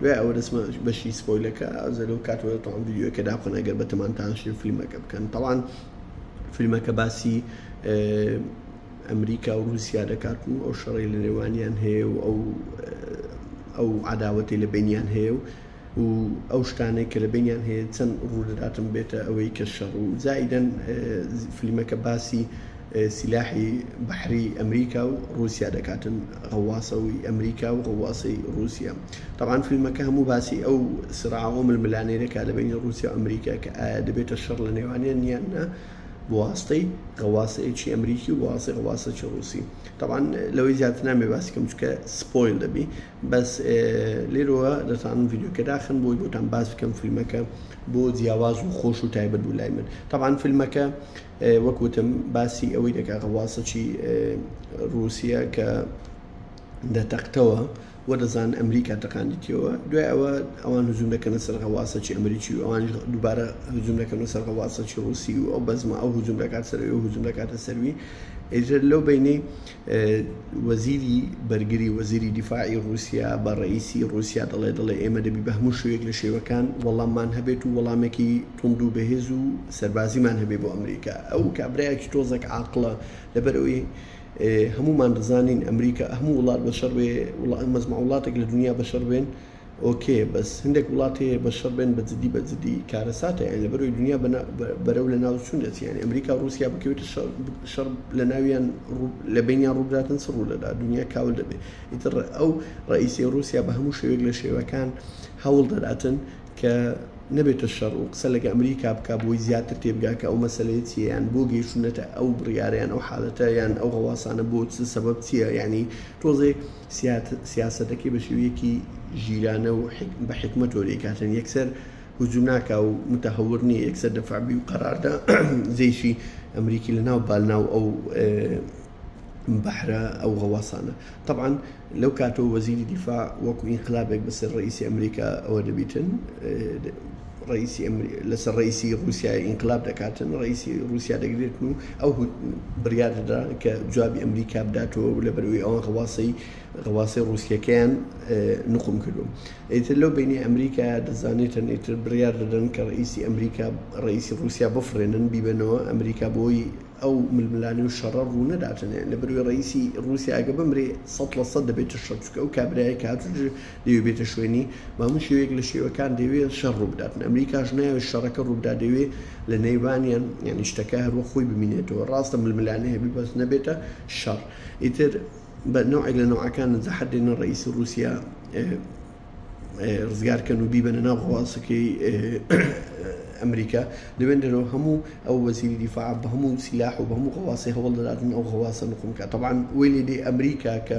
دوای ئەوە دەچمە بەشی سپۆیلەکە ئەوجا لەو کاتەوە تەواو ڤیدیۆکە دابخەن ئەگەر بەتەمان تاشن فیلمەکە بکەن تەوان فیلمەکە باسی ئەمریکا و رووسیا دەکات و ئەو شەڕی لە نێوانیان هەیە و ئەو ئەو عداوەتی لە بینیان هەیە و و ئەو شتانەی کە لە بینیان هەیە چەند ڕوودەداتم بێتە ئەوەی کە شەڕ و زائیدەن فیلمەکە باسی سیلاحی بەحری ئەمریکا و ڕوسیا دەکاتن غەواصەوی ئەمریکا و غەواصەی ڕوسیا تەبعەن فیلمەکە هەموو باسی ئەو سراع و ململانێ دەکات لە بەینی ڕوسیا و ئەمریکا کە ئایا دەبێتە شەڕ لە نێوانیان یان نا بواسطەی غەواصەیەکی ئەمریکی و بواسطەی غەواصەکی ڕوسی تەبعەن لەوەی زیاتر نامێ باسی کەم چکە سپۆیل دەبی بەس لێرەوە دەتانم ڤیدیۆکە داخن بۆی بۆتان باس بکەم فیلمەکە بۆ جیاواز و خۆش و تایبەت بوو لای من تەبعەن فیلمەکە وەک وتم باسی ئەوەی دەکا غەواصەچی روسیە کە دەتەقتەوە و دەزان ئەمریکا تەقاندیتیەوە دوای ئەوە ئەوان هزوم دەکەنە سەر غەواصەچی ئەمریکی و ئەوان دووبارە هزوم دەکەن و سەر غەواصەچی روسی و ئەو بەزمە ئەو هزوم دەکات سەروی و هزوم دەکاتە سەروی ئێتر لەو بینەی وەزیری بەرگری وەزیری دیفاعی ڕووسیا بە ڕەئیسی ڕووسیا دەڵێ دەڵێ ئێمە دەبی بە هەموو شێوەیەک لە شێوەکان وەڵاممان هەبێت و وەڵامێکی توند و بەهێز و سەربازیمان هەبێ بۆ ئەمریکا ئەو کابرایەکی تۆزەک عاقڵە لەبەرەوەی هەموومان دەزانین ئەمریکا هەموو وڵات بەشەڕ بێ مەزمە وڵاتێک لە دنیا بەشەڕ بێن ئۆکێ بەس هەندێک وڵات هەیە بەشەڕ بێن بە جدی بە جدی کارەساتە یان لە بەرەوی دونیا بەرەو لە ناو چون دەچی یانی ئەمریکا و ڕوسیا بکەوێتە شەڕ شەڕ لە ناویان لە بینیان ڕوبداتن چ ڕوو دەدا دونیا کاول دەبێ ئیتر ئەو ڕئیسی ڕوسیا بە هەموو شێوێک لە شێوەکان هەوڵ دەداتن کە نەبێتە شەڕ و قسە لەگە ئەمریکا بکە بۆی زیاتر تێبگا کە ئەو مەسلەیە چیە یان بۆ گەیشتونەتە ئەو بڕیارەیان ئەو حالەتە یان ئەو غەواسانە بۆ چ سەبەب چیە ینی تۆزێ سیاسەتەکەی بە شێوەیەکی ژیرانە و بە حیکمەتەوە دەیکاتن، یەکسەر هجوم ناکا و متهور نیە، یەکسەر دفع بی و قەراردا جەیشی ئەمریکی لە ناو با ناو ئەو بەحرە ئەو غەواسانە. تەبعەن لەو کاتەوە وەزیری دفاع وەکو ئینقلابێک بە سەر ڕەئیسی ئەمریکا ئەوە دەبیتن، ڕەئیسی ئەمری لەسەر ڕەئیسی ڕووسیای ئینقلاب دەکاتن، ڕەئیسی ڕووسیا دەگرێتن و ئەو هوت بڕیار دەدا کە جوابی ئەمریکا بداتەوە و لەبەرئەوەی ئەوان غەواسەی غەواسەی ڕووسییەکەیان نقوم کردو ئیتر لەو بەینەی ئەمریکا دەزانێتن ئیتر بڕیار دەدەن کە ڕەئیسی ئەمریکا ڕەئیسی ڕووسیا بفڕێنن بیبەنەوە ئەمریکا بۆی ئەو ململانێ و شەڕە ڕوو نەداتن لەبەرئەوەی ڕەئیسی ڕووسیا ئەگە بمرێ سەد لە سەد دەبێتە شەر چونکە ئەو کابرایە کە هاتووچ دەیەوێت بێتە شوێنی، بەهەموو شێوەیەک لە شێوەکان دەیەوێت شەڕ ڕووبدات، ئەمریکاش نایەوێت شەڕەکە ڕووبدات دەیەوێت لە نێوانیان یانی شتەکە هەروەک خۆی بمینێتەوە، ڕاستە ململانێ هەبێت بەس نەبێتە شەڕ، ئیتر بە نەوعێک لە نەوعەکان زەحەت دێنە ڕەئیسی ڕووسیا ڕزگار کەن و بیبەنە ناو غەواسەکەی ئەمریکا دەبێن دەرەوە هەموو ئەو وەزیری دیفاع بە هەموو سیلاح و بە هەموو غەواسی هەوڵ دەداتن ئەو غەواسە نقوم کە تەبان وی لێدی ئەمریکا کە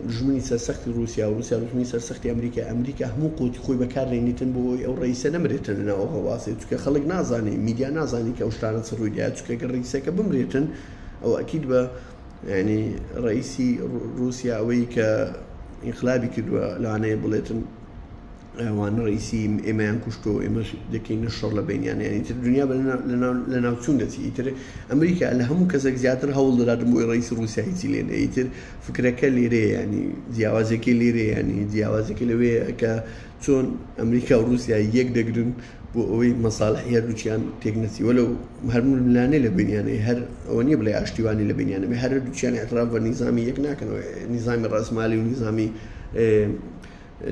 دوژمنی سەرسەختی ڕوسیا و ڕوسیا دوژمنی سەرسەختی ئەمریکای ئەمریکا هەموو قوتی خۆی بەکار دەینیتن بۆ ئەوەی ئەو ڕئیسە نەمرێتن لە ناوەوە ڕاستە چونکە خەڵک نازانێ میدیا نازانێ کە ئەو شتانە چ ڕووی دایە چونکە گەر ڕئیسەکە بمرێتن ئەو ئەکید بە یعنی ڕئیسی ڕوسیا ئەوەی کە ئینقلابی کردووە لەوانەیە بڵێتن ئەوانە ڕەئیسی ئێمەیان کوشتوە و ئێمەش دەکەینە شەڕ لە بەینیان یان ئیتر دنیا بە لەناوچوون دەچی ئیتر ئەمریکا لە هەموو کەسێک زیاتر هەوڵ دەدات بۆی ڕەئیسی ڕوسیا هیچی لێ نەیە ئیتر فکرەکە لێرەیە یانی جیاوازەکەی لێرەیە یانی جیاوازەکە لەوەیە کە چۆن ئەمریکا و ڕوسیا یەک دەگرن بۆ ئەوەی مەساڵحی هەردووکیان تێک نەچی وەلەو هەر ململانێ لە بینیانەی هەر ئەوە نییە بڵێ ئاشتیوانی لە بینیانە بێ هەردووکیان اعتراف بە نیزامی یەک ناکەنەوە نیزامی ڕەسمالی و نیزامی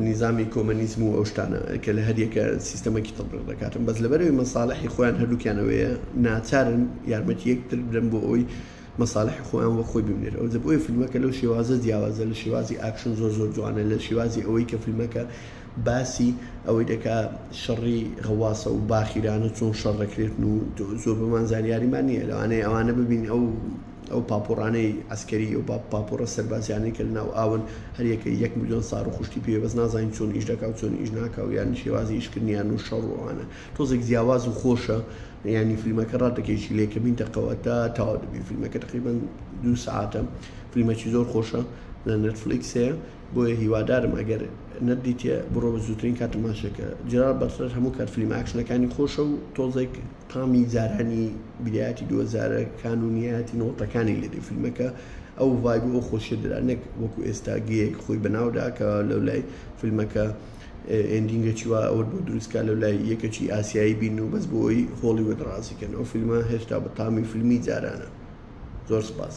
نیزامی کۆمەنیزم و ئەو شتانە کە لە هەریەکە سیستەمەکی تەتبیق دەکاتن بەس لەبەرەوەی مەسالحی خۆیان هەردووکیان ئەوەیە ناچارن یارمەتی یەکتر بدەن بۆ ئەوەی مەسالحی خۆیان وەک خۆی ببینێت ئەوجە بۆیە فیلمەکە لەو شێوازە جیاوازە لە شێوازی ئاکشن زۆر زۆر جوانە لە شێوازی ئەوەی کە فیلمەکە باسی ئەوەی دەکا شەڕی غەواسە و باخیرانە چۆن شەڕ دەکرێتن و زۆر بەمان زانیاریمان نییە لەوانەیە ئەوانە ببین ئەو ئەو پاپۆڕانەی عەسکەری ئەو پاپۆڕە سەربازیانەی کە لەناو ئاون هەر یەکەی یەک ملیۆن ساڕ و خوشکی پێیە بەس نازانین چۆن ئیش دەکا و چۆن ئیش ناکا و یانی شێوازی ئیشکردنیان و شەڕ و ئەوانە تۆزێک جیاواز و خۆشە یانی فیلمەکە ڕاتەکێکی لێ کەمین دەقەوە تا تاوا دەبی فیلمەکە تقریبان دوو سعاتە فیلمەکی زۆر خۆشە لە نەتفلیکس هەیە بۆیە هیوادارم ئەگەر نەدیتێ بڕۆ بە زووترین کاتماشەکە جرار بەتلەر هەموو کات فیلم ئاکشنەکانی خۆشە و تۆزێک تامی جارانی برایەتی دۆزارە کان و نیایەتی نەوەتەکانی لێدێ فیلمەکە ئەو ڤایب و ئەو خۆشیە درا نەک وەکو ئێستا گەیەک خۆی بەناودا کە لەو لای فیلمەکە ئێندینگە چیوا ئەوە بۆ دروستکە لەو لای یەکەکی ئاسیایی بین و بەس بۆی هۆڵی وەدڕازیکەن ئەو فیلمە هێشتا بە تامی فیلمی جارانە زۆر سپاس.